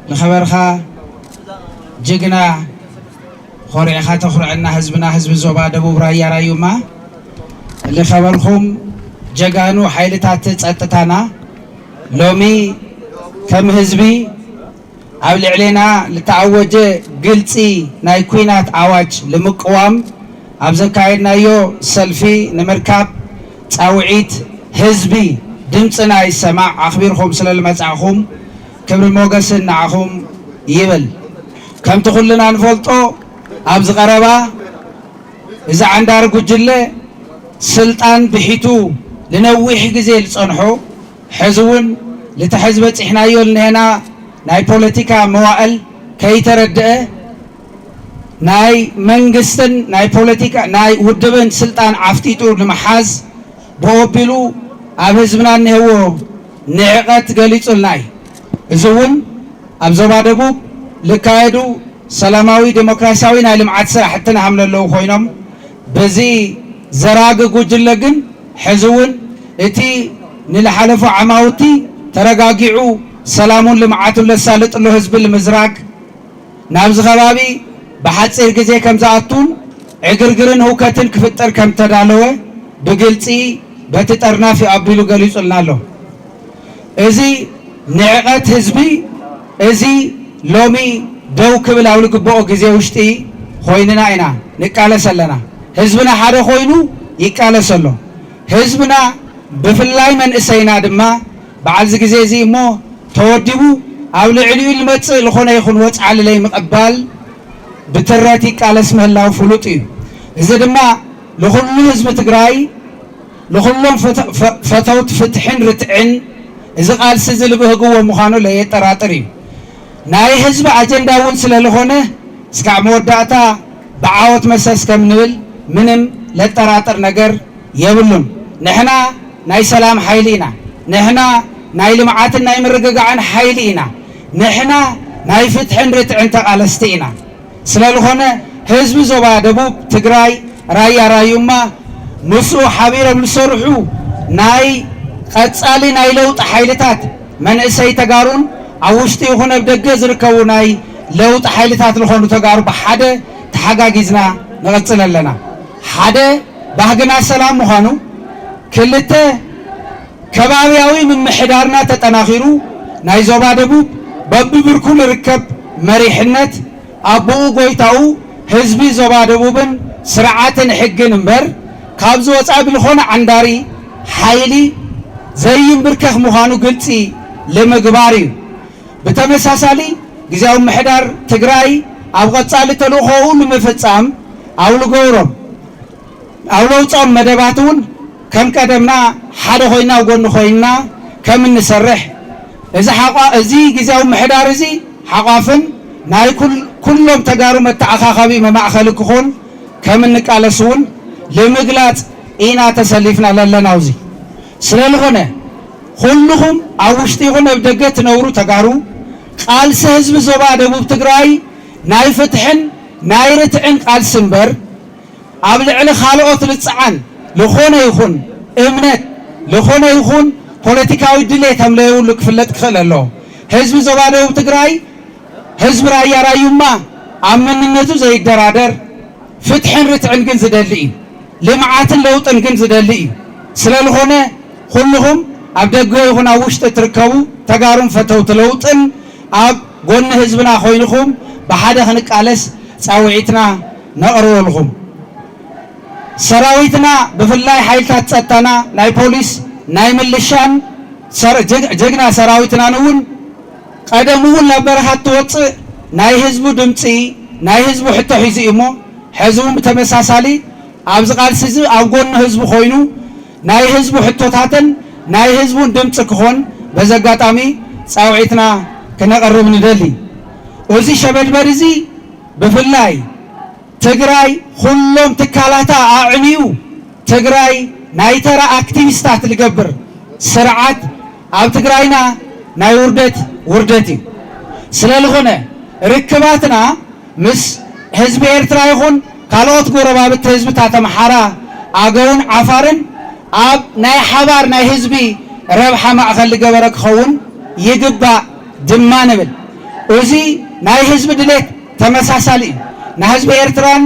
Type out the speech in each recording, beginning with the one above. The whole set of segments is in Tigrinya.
ንኸበርኻ ጅግና ኾሪዕኻ ተኹርዐና ህዝብና ህዝቢ ዞባ ደቡብ ራያ ራዩማ ንኸበርኹም ጀጋኑ ሓይልታት ፀጥታና ሎሚ ከም ህዝቢ ኣብ ልዕሌና ልተኣወጀ ግልፂ ናይ ኩናት ኣዋጅ ልምቅዋም ኣብ ዘካየድናዮ ሰልፊ ንምርካብ ፃውዒት ህዝቢ ድምፅና ይሰማዕ ኣኽቢርኹም ስለልመፃእኹም ክብሪ ሞገስን ንዓኹም ይብል። ከምቲ ኩልና ንፈልጦ ኣብዚ ቀረባ እዚ ዓንዳሪ ጉጅለ ስልጣን ብሒቱ ልነዊሕ ግዜ ልፀንሖ ሕዚ እውን ልቲ ሕዚ በፂሕናዮ ልኒሀና ናይ ፖለቲካ መዋእል ከይተረደኣ ናይ መንግስትን ናይ ፖለቲካ ናይ ውድብን ስልጣን ዓፍጢጡ ንምሓዝ ብኦቢሉ ኣብ ህዝብና እኒሀዎ ንዕቀት ገሊፁልና እዩ። እዚ እውን ኣብ ዞባ ደቡብ ልካየዱ ሰላማዊ ዴሞክራሲያዊ ናይ ልምዓት ስራሕቲ ናሃምለለዉ ኮይኖም በዚ ዘራጊ ጉጅለ ግን ሕዚ እውን እቲ ንልሓለፉ ዓማውቲ ተረጋጊዑ ሰላሙን ልምዓቱን ለሳልጥሎ ህዝቢ ልምዝራግ ናብዚ ከባቢ ብሓፂር ግዜ ከምዝኣቱን ዕግርግርን ህውከትን ክፍጠር ከምዝተዳለወ ብግልፂ በቲ ጠርናፊ ኣቢሉ ገሊፁልና ኣሎ። እዚ ንዕቐት ህዝቢ እዚ ሎሚ ደው ክብል ኣብ ልግበኦ ግዜ ውሽጢ ኾይንና ኢና ንቃለስ ኣለና። ህዝብና ሓደ ኾይኑ ይቃለስ ኣሎ። ህዝብና ብፍላይ መንእሰይና ድማ፣ በዓልዚ ግዜ እዚ እሞ ተወዲቡ ኣብ ልዕሊኡ ልመጽእ ልኾነ ይኹን ወጽዓሊ ለይምቕባል ብትረት ይቃለስ ምህላው ፍሉጥ እዩ። እዚ ድማ ልኹሉ ህዝቢ ትግራይ ልኹሎም ፈተውት ፍትሕን ርትዕን እዚ ቃልሲ እዚ ልብህግዎ ምዃኑ ለየጠራጥር እዩ። ናይ ህዝቢ ኣጀንዳ እውን ስለልኾነ እስካዕ መወዳእታ ብዓወት መሰስ ከም ንብል ምንም ለጠራጥር ነገር የብሉን። ንሕና ናይ ሰላም ሓይሊ ኢና። ንሕና ናይ ልምዓትን ናይ ምርግጋዕን ሓይሊ ኢና። ንሕና ናይ ፍትሕን ርትዕን ተቓለስቲ ኢና። ስለልኾነ ህዝቢ ዞባ ደቡብ ትግራይ ራያ ራዩማ ምስኡ ሓቢሮም ልሰርሑ ናይ ቐፃሊ ናይ ለውጢ ሓይልታት መንእሰይ ተጋሩን ኣብ ውሽጢ ይኹን ኣብ ደገ ዝርከቡ ናይ ለውጢ ሓይልታት ልኾኑ ተጋሩ ብሓደ ተሓጋጊዝና ንቐፅል ኣለና። ሓደ ባህግና ሰላም ምዃኑ፣ ክልተ ከባብያዊ ምምሕዳርና ተጠናኺሩ ናይ ዞባ ደቡብ በቢብርኩ ልርከብ መሪሕነት፣ ኣቡኡ ጎይታኡ ህዝቢ ዞባ ደቡብን ስርዓትን ሕግን እምበር ካብዚ ወፃኢ ብልኾነ ዓንዳሪ ሓይሊ ዘይምብርከኽ ምዃኑ ግልፂ ልምግባር እዩ። ብተመሳሳሊ ግዝያዊ ምምሕዳር ትግራይ ኣብ ቐፃሊ ተልእኾኡ ልምፍፃም ኣብ ልገብሮም። ኣብ ለውጾም መደባት እውን ከም ቀደምና ሓደ ኮይና ኣብ ጎኒ ኮይንና ከም እንሰርሕ እዚ ሓቋ እዚ ግዝያዊ ምሕዳር እዚ ሓቋፍን ናይ ኩሎም ተጋሩ መተኣኻኸቢ መማእኸሊ ክኾን ከም እንቃለስ እውን ልምግላጽ ኢና ተሰሊፍና ለለና ኣብዚ ስለ ልኾነ ኩልኹም ኣብ ውሽጢ ይኹን ኣብ ደገ ትነብሩ ተጋሩ ቃልሲ ህዝቢ ዞባ ደቡብ ትግራይ ናይ ፍትሕን ናይ ርትዕን ቃልሲ እምበር ኣብ ልዕሊ ካልኦት ልፅዓን ልኾነ ይኹን እምነት፣ ልኾነ ይኹን ፖለቲካዊ ድሌ ከምለየብሉ ክፍለጥ ክኽእል ኣለዎ። ህዝቢ ዞባ ደቡብ ትግራይ፣ ህዝቢ ራያ ራዩማ ኣብ መንነቱ ዘይደራደር፣ ፍትሕን ርትዕን ግን ዝደሊ እዩ። ልምዓትን ለውጥን ግን ዝደሊ እዩ። ስለልኾነ ኹሉኹም ኣብ ደገ ይኹን ኣብ ውሽጢ እትርከቡ ተጋሩን ፈተውቲ ለውጥን ኣብ ጎኒ ህዝብና ኾይንኹም ብሓደ ክንቃለስ ፃውዒትና ነቕርበልኹም። ሰራዊትና ብፍላይ ሓይልታት ፀጥታና ናይ ፖሊስ ናይ ምልሻን ጀግና ሰራዊትናን እውን ቐደሙ እውን ናብ በረኻ እንትወፅእ ናይ ህዝቡ ድምፂ ናይ ህዝቡ ሕቶ ሒዙ እዩ እሞ ሐዚ እውን ብተመሳሳሊ ኣብዚ ቓልሲ እዚ ኣብ ጎኒ ህዝቡ ኮይኑ ናይ ህዝቡ ሕቶታትን ናይ ህዝቡን ድምፂ ክኾን በዚ ኣጋጣሚ ፃውዒትና ክነቕርብ ንደሊ። እዚ ሸበድበድ እዚ ብፍላይ ትግራይ ኹሎም ትካላታ ኣዕንዩ ትግራይ ናይ ተራ ኣክቲቪስታት ልገብር ስርዓት ኣብ ትግራይና ናይ ውርደት ውርደት እዩ። ስለልኾነ ርክባትና ምስ ህዝቢ ኤርትራ ይኹን ካልኦት ጎረባብቲ ህዝብታት ኣምሓራ፣ ኣገውን ዓፋርን ኣብ ናይ ሓባር ናይ ህዝቢ ረብሓ ማእኸል ልገበረ ክኸውን ይግባእ። ድማ ንብል እዚ ናይ ህዝቢ ድሌት ተመሳሳሊ እዩ ናህዝቢ ኤርትራን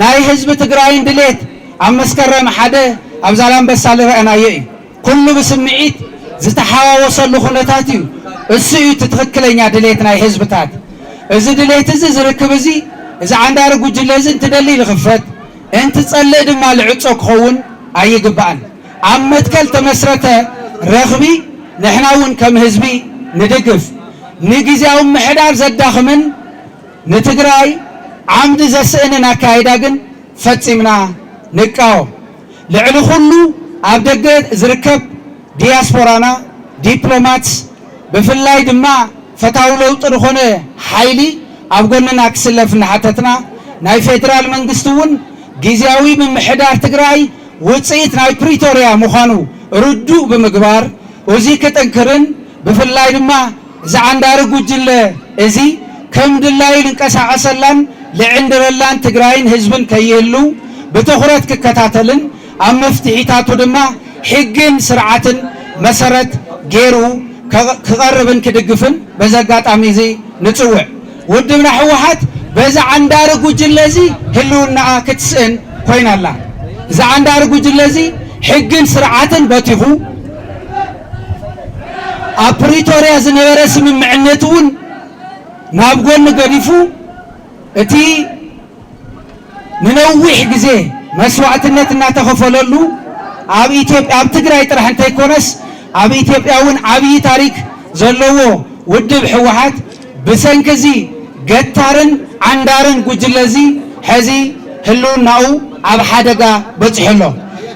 ናይ ህዝቢ ትግራይን ድሌት ኣብ መስከረም ሓደ ኣብ ዛላንበሳ ልረእናዮ እዩ ኩሉ ብስምዒት ዝተሓዋወሰሉ ኩነታት እዩ እሱ እዩ እቲ ትክክለኛ ድሌት ናይ ህዝብታት እዚ ድሌት እዚ ዝርክብ እዚ እዚ ዓንዳሪ ጉጅለ እዚ እንትደሊ ልክፈት እንትፀልእ ድማ ልዕፆ ክከውን ኣይግባእን። ኣብ መትከል ተመስረተ ረኽቢ ንሕና እውን ከም ህዝቢ ንድግፍ። ንግዝያዊ ምምሕዳር ዘዳኽምን ንትግራይ ዓምዲ ዘስእንን ኣካይዳ ግን ፈፂምና ንቃወም። ልዕሊ ኹሉ ኣብ ደገ ዝርከብ ዲያስፖራና፣ ዲፕሎማትስ፣ ብፍላይ ድማ ፈታዊ ለውጢ ዝኾነ ሓይሊ ኣብ ጎንና ክስለፍ እናሓተትና፣ ናይ ፌዴራል መንግስቲ እውን ጊዚያዊ ምምሕዳር ትግራይ ውፅኢት ናይ ፕሪቶሪያ ምዃኑ ርዱእ ብምግባር እዙይ ክጥንክርን ብፍላይ ድማ እዚ ዓንዳሪ ጉጅለ እዚ ከም ድላዩ ልንቀሳቐሰላን ልዕንድረላን ትግራይን ህዝብን ከይህልው ብትኹረት ክከታተልን ኣብ መፍትሒታቱ ድማ ሕግን ስርዓትን መሰረት ገይሩ ክቐርብን ክድግፍን በዚ ኣጋጣሚ እዚ ንፅውዕ። ውድብና ህወሓት በዚ ዓንዳሪ ጉጅለ እዚ ህልውናኣ ክትስእን ኮይና ኣላ። እዚ ዓንዳሪ ጉጅለ እዚ ሕግን ስርዓትን በቲኹ ኣብ ፕሪቶርያ ዝነበረ ስምምዕነት እውን ናብ ጎኒ ገዲፉ እቲ ንነዊሕ ግዜ መስዋእትነት እናተኸፈለሉ ኣብ ኢትዮጵያ ኣብ ትግራይ ጥራሕ እንተይኮነስ ኣብ ኢትዮጵያ እውን ዓብዪ ታሪክ ዘለዎ ውድብ ህወሓት ብሰንኪ እዚ ገታርን ዓንዳርን ጉጅለ እዚ ሕዚ ህልውናኡ ኣብ ሓደጋ በፂሑ ኣሎ።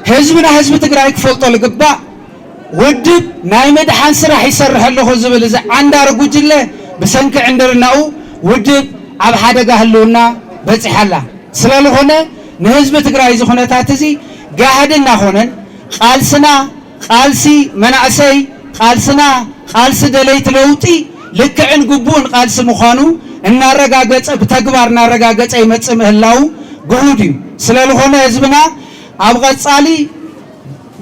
ህዝብና ህዝቢ ትግራይ ክፈልጦ ልግባእ። ውድብ ናይ ምድሓን ስራሕ ይሰርሕ ኣለኹ ዝብል እዚ ዓንዳሪ ጉጅለ ብሰንኪ ዕንድርናኡ ውድብ ኣብ ሓደጋ ህልውና በፂሓ ኣላ። ስለልኾነ ንህዝቢ ትግራይ እዚ ኩነታት እዚ ጋህዲ እናኾነን ቓልስና ቓልሲ መናእሰይ፣ ቓልስና ቓልሲ ደለይቲ ለውጢ ልክዕን ግቡእን ቓልሲ ምዃኑ እናረጋገፀ ብተግባር እናረጋገፀ ይመፅእ ምህላው ግሁድ እዩ። ስለልኾነ ህዝብና ኣብ ቐፃሊ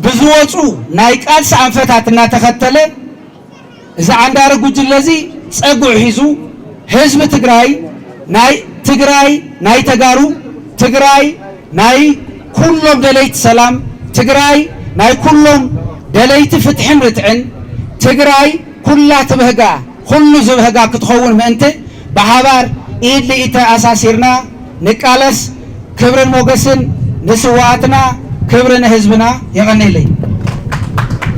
ብዝወፁ ናይ ቃልሲ ኣንፈታት እናተኸተለ እዚ ዓንዳሪ ጉጅለ እዚ ፀጉዒ ሒዙ ህዝቢ ትግራይ ናይ ትግራይ ናይ ተጋሩ፣ ትግራይ ናይ ኩሎም ደለይቲ ሰላም፣ ትግራይ ናይ ኩሎም ደለይቲ ፍትሕን ርትዕን፣ ትግራይ ኩላ ትብህጋ! ኹሉ ዝብህጋ ክትኸውን ምእንቲ ብሓባር ኢድ ንኢድ ተኣሳሲርና ንቃለስ ክብርን ሞገስን ንስዋኣትና ክብሪ ንህዝብና የቐኔለይ።